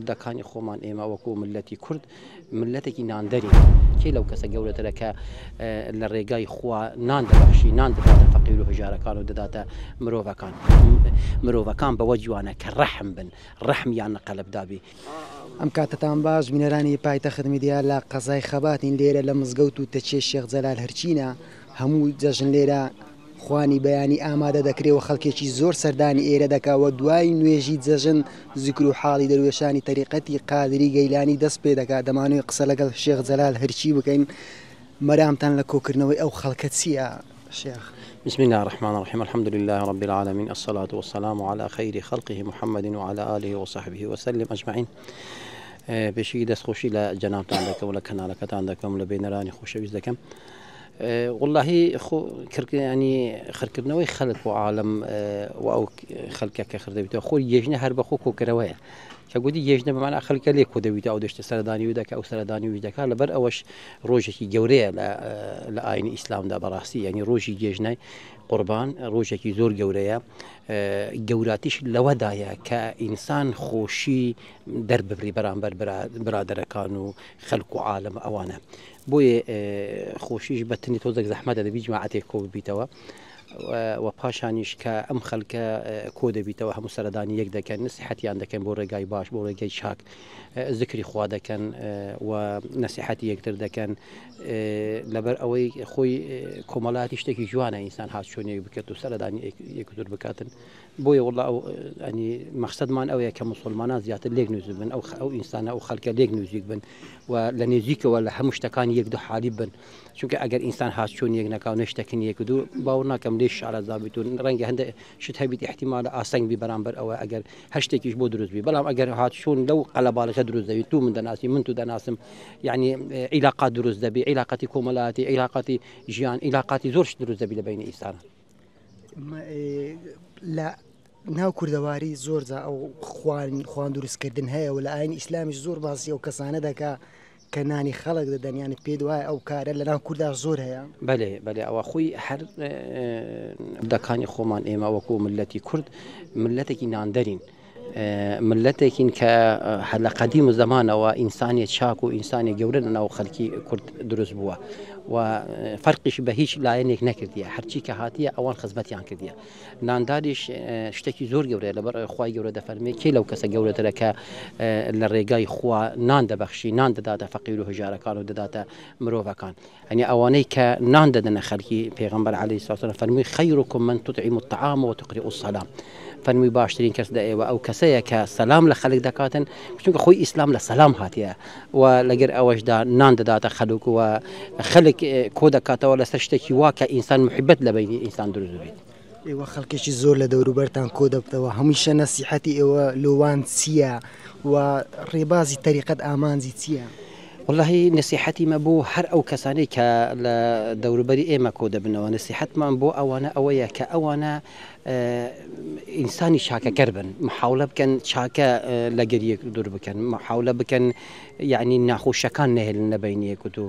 دەکانی خۆمان ئێمە وەکو ملەتی کورد ملەتێکی ناندەرین کێ لەو کەسە گەورەترە کە لە ڕێگای خوا نان دەبخشی نان دەداتە فەقیر و هەژارەکان و دەداتە مرۆڤەکان مرۆڤەکان بەوە جوانە کە ڕەحم بن ڕەحمیان لە قەلبدابی ئەم کاتتان باش بینەرانی پایتەخت میدیا لە قەزای خەباتین لێرە لە مزگەوت و تەچێ شێخ جەلال هەرچینە هەموو جەژن لێرە خوانی بەیانی ئامادە دەکرێ و خەڵکێکی زۆر سەردانی ئێرە دەکا و دوای نوێژی جەژن زیکر و حاڵی دەروێشانی تەریقەتی قادری گەیلانی دەست پێ دەکا، دەمانەوێ قسە لەگەڵ شێخ جەلال هەرکی بکەین، مەرامتان لە کۆکردنەوەی ئەو خەڵکە چییە شێخ؟ بسم اللە الرحمن الرحیم الحمد للە رب العالمین الصلوة والسلام علی خیر خلقه محمد و علی آله و صحبه و سلم اجمعین پێشی دەست خۆشی لە جەنابتان دەکەم و لە کەنالەکەتان دەکەم لە بینەرانی خۆشەویست دەکەم. وەڵاهی خۆ کڕکردنی خرکردنەوەی خەلک و عاالم و ئەو خەلکە کە خردەبییتەوە خۆی یژنە هەر بەخۆ کۆکەرەوەیە کە گوتی یژنە بەمان خەلکە لێ کۆ دەبییت ئەو دەشتە سەردانی و دەکە ئەو سەردانی وی دەکات لەبەر ئەوەش ڕۆژێکی گەورەیە لە ئاینی ئیسلامدا بەڕاستی یعنی ڕۆژی گێژنای قوربان ڕۆژێکی زۆر گەورەیە گەوراتیش لەوەدایە کە ئینسان خۆشی دەرببری بەرامبەر برادەرەکان و خەلک و عاالم ئەوانە بۆیێ خۆشیش بە تنی تۆزێک زەحمەتە دەبی جماعەتێک کۆ ببیتەوە وە پاشانیش کە ئەم خەلکە کۆ دەبیتەوە هەموو سەردانی یەک دەکەن نسیحەتیان دەکەن بۆ ڕێگای باش بۆ ڕێگەی چاک زکری خوا دەکەن و نسیحەتی یەکتر دەکەن لەبەر ئەوەی خۆی کۆمەڵاتی شتێکی جوانە ئینسان هاچۆنێک بکرێت و سەردانی یەکتر بکاتن بۆیە واللە ئەو ینی مەخسەدمان ئەوەیە کە موسوڵمانان زیاتر لێک نزیک بن ئەو ئەو ئینسانە ئەو خەلکە لێک نزیک بن و لە نێزیکەوە لە هەموو شتەکان یەک دو حالی بن چونکە ئەگەر ئینسان هات چۆن یەک نەکاو نەشتەکن یەک دو باور ناکەم لێش شارەزا بیت و ڕەنگە هەندە شت هەبیت احتیمالە ئاسنگ بی بەرامبەر ئەوە ئەگەر هەر شتێکیش بۆ دروست بی بەڵام ئەگەر هات چۆن لەو قەلەباڵغە دروست دەبی تو من دەناسی من تو دەناسم یعنی عیلاقات دروست دەبی عیلاقاتی کۆمەلاتی عیلاقاتی ژیان عیلاقاتی زۆر شت دروست دەبی لە بەینی ئینسانان لە ناو کوردەواری زۆرجا ئەو خوان خوان دروستکردن هەیە و لە ئاین ئیسلامیش زۆر باسی ئەو کەسانە دەکا کە نانی خەڵک دەدەنیانت پێ دوایە ئەو کارە لە ناو کووردا زۆر هەیە بەێ بەێ ئەوە خۆی هەر دەکانی خۆمان ئێمە وەکو ملەتی کورد ملەتێکی ناندەرین. مللەتێکین کە لە قەدیم زەمانەوە ئینسانی چاک و ئینسانی گەورە لە ناو خەلکی کورد دروست بووە و فەرقیش بە هیچ لایەنێک نەکردیە هەرچی کە هاتیە ئەوان خزمەتیان کردیە نانداریش شتێکی زۆر گەورەیە لەبەر خی گەورە دەفەرمێ کێ لەو کەسە گەورەترە کە لە ڕێگای خوا نان دەبەخشی نان دەداتە فەقیر و هەژارەکان و دەداتە مرۆڤەکان یەعنی ئەوانەی کە نان دەدەنە خەلکی، پێغەمبەر علیە السلام سلام فەرمووی، خیرکم من تطعم الطعام و تقرئ السلام، فەرمووی باشترین کەس لە ئێوە ئەو کەسەیە کە سەلام لە خەلک دەکاتن، چونکە خۆی ئیسلام لە سەلام هاتیە، و لەگەر ئەوەشدا نان دەداتە خەلک و خەلک کۆدەکاتەوە لەسەر شتەکی وا کە ئینسان محبەت لە بەینی ئینسان دروست ببیت. ئێوە خەڵکێکی زۆر لە دەوروبەرتان کۆ دەبتەوە، هەمیشە نەسیحەتی ئێوە لۆ وان چییە؟ و ڕێبازی تەریقەت ئامانجی چییە؟ وەڵاهی نەسیحەتی مە بۆ هەر ئەو کەسانەی کە لە دەوروبەری ئێمە کۆ دەبنەوە، نەسیحەتمان بۆ ئەوانە ئەوەیە کە ئەوانە ئینسانی چاکەکەر بن، محاولە بکەن چاکە لە گەریێک دوور بکەن، محاولە بکەن یانی ناخۆشەکان نەهێلنە بەینیێکوتوو.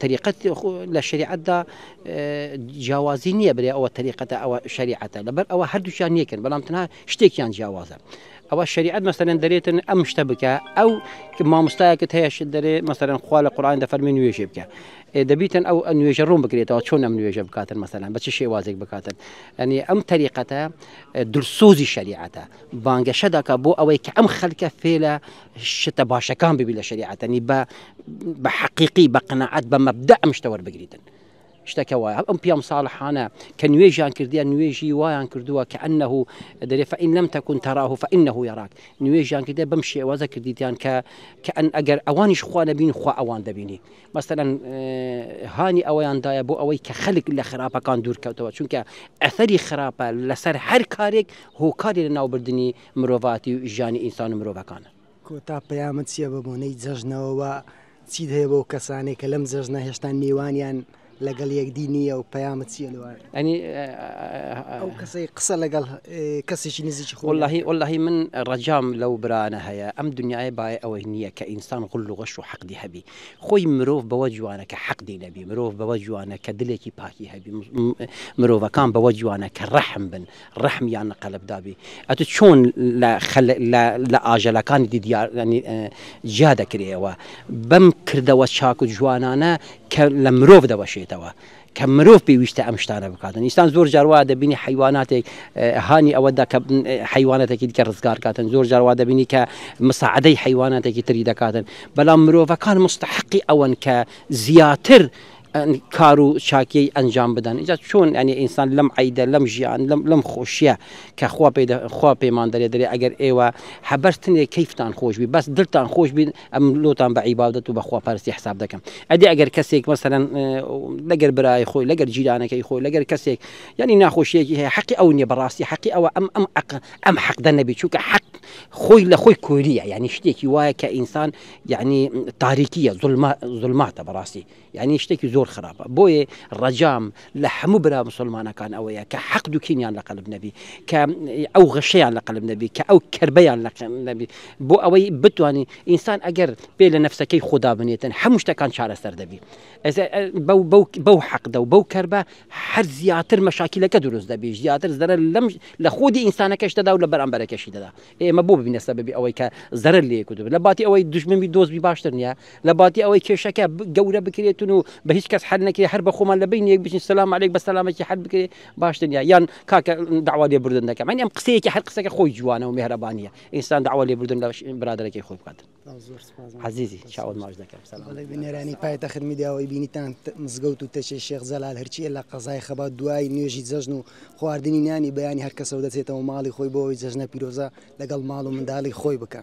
تەریقەت لە شریعەتدا جیاوازی نییە برێ ئەوە تەریقەتە ئەوە شریعەتە لەبەر ئەوە هەردووچیان یەکن بەڵام تەنها شتێکیان جیاوازە ئەوە شریعەت مەسەرەن دەرێتن ئەم شتە بکە ئەو مامۆستایەکە هەیەش دەرێ مەسەرەن خوا لە قڕان دەفەرمی نوێژێ بکە دەبیتن ئەو نوێژە ڕوون بکرێتەوە چۆن ئەم نوێژە بکاتن مەسەران بە چ شێوازێک بکاتن ئەنی ئەم تەریقەتە درسۆزی شریعەتە بانگەشە دەکە بۆ ئەوەی کە ئەم خەلکە فێلە شتە باشەکان ببی لە شەریعەتە نی بە بە حەقیقی بە قەنەعەت بە مەبدە ئەم شتە وەربگریتن شتەکە وایە ئەم پیام ساڵحانە کە نوێژیان کردیە نوێژی وایان کردووە کە ئەنه دەرێ فەئین لەم تەکون تەراه فەئینه یەراک نوێژیان کردە بەم شێوازە کردیتیان کە کە ئەن ئەگەر ئەوانیش خوا نەبین خوا ئەوان دەبینی مەسەەن هانی ئەوەیان دایە بۆ ئەوەی کە خەلک لە خراپەکان دوورکەوتەوە چونکە ئەثەری خراپە لەسەر هەر کارێک هۆکاری لە ناوبردنی مرۆڤاتی و ژیانی ئینسان و مرۆڤەکانە. کۆتا پەیامت چیە بە بۆنەی جەژنەوە وە چیت هەیە بۆ کەسانێ کە لەم جەژنە هێشتا نێوانیان لەگەڵ یەکدی نیە و پەیامت چیە لەوان ئەنی ئەو کەسەی قسە لەگەڵ کەسێکی نزیکی خۆ واللهی واللهی من ڕەجام لەو برانە هەیە ئەم دنیای بای ئەوەی نییە کە ئینسان غل و غەش و حەقدی هەبی خۆی مرۆڤ بەوە جوانە کە حەقدی نەبی مرۆڤ بەوە جوانە کە دلێکی پاکی هەبی مرۆڤەکان بەوە جوانە کە ڕەحم بن ڕەحم یان لە قەلب دابی ئەتو چۆن لە خەل لە لە ئاژەلەکانی دی دیار یانی جیا دەکرێەوە بەم کردەوە چاک و جوانانە کە لە مرۆڤ دەوەشێتەوە کە مرۆڤ پێویستە ئەم شتانە بکاتن ئینسان زۆر جاروا دەبینی حیواناتێک هانی ئەوەدا کە حیوانەتێکی دیکە ڕزگارکاتن زۆر جاروا دەبینی کە مساعدەی حیواناتێکی تری دەکاتن بەڵام مرۆڤەکان مستحقی ئەوەن کە زیاتر کار و چاکیی ئەنجام بدەن ئینجا چۆن یانی ئینسان لەم عەیدە لەم ژیان لەم لەم خۆشیە کە خوا پێ دە خوا پێمان دەرێ دەرێ ئەگەر ئێوە هە بەس تنێ کەیفتان خۆش بی بەس دلتان خۆش بین ئەم لۆتان بە عیبادەت و بە خوا پەرستی حساب دەکەم ئەدی ئەگەر کەسێک مەسەلەن لەگەر برای خۆی لەگەر جیرانەکەی خۆی لەگەر کەسێک یانی ناخۆشیەکی هەیە حەقی ئەو نیە بەڕاستی حەقی ئەوە ئەم ئەم ئەق ئەم حەقدە نەبی چونکە حەق خۆی لە خۆی کوێریە یانی شتێکی وایە کە ئینسان یانی تاریکیە زولما زولماتە بەڕاستی. یانی شتێکی زۆر خراپە بۆیە ڕەجام لە هەموو برا مسلمانەکان ئەوەیە کە حەق دوکینیان لە قەلب نەبی کە ئەو غەشەیان لە قەلب نەبی کە ئەو کردبیان لە نەبی بۆ ئەوەی بتانی ئینسان ئەگەر پێ لە نفسەکەی خۆدا بنێتن هەموو شتەکان چارەسەر دەبی بەو حەقدە و بەو کەربە هەر زیاتر مەشاکیلەکە دروست دەبی زیاتر زەرە لەم لە خودی ئینسانەکەش دەدا و لە بەرامبەرەکەشی دەدا ئێمە بۆ ببینە سەبەبی ئەوەی کە زەرەر لێ یەک و دوو بن؟ لە باتی ئەوەی دوژمن بی دۆست بی باشتر نییە؟ لە باتی ئەوەی کێشەکە ب گەورە بکرێتن و بە هیچ کەس حەل نەکرێ هەر بە خۆمان لە بەینی یەک بچین سەلام عەلەیک بە سەلامەکی حەل بکرێ باشتر نییە؟ یان کاکە دەعوا لێبوردن دەکەم یانی ئەم قسەیەکی هەر قسەکە خۆی جوانە و میهرەبانییە ئینسان دەعوا لێبوردن لە برادەرەکەی خۆی بکات. عەزیزی چاوت ماچ دەکەم نێرانی پایتەخت میدیاەوەی بینیتان مزگەوت و تەچێ شێخ جەلال هەرچیە لە قەزای خەبات دوای نوێژی جەژن و خواردنی نانی بەیانی هەر کەسەوە دەچێتەوە ماڵی خۆی بۆەوەی جەژنە پیرۆزە لەگەڵ ماڵ و منداڵی خۆی بکە.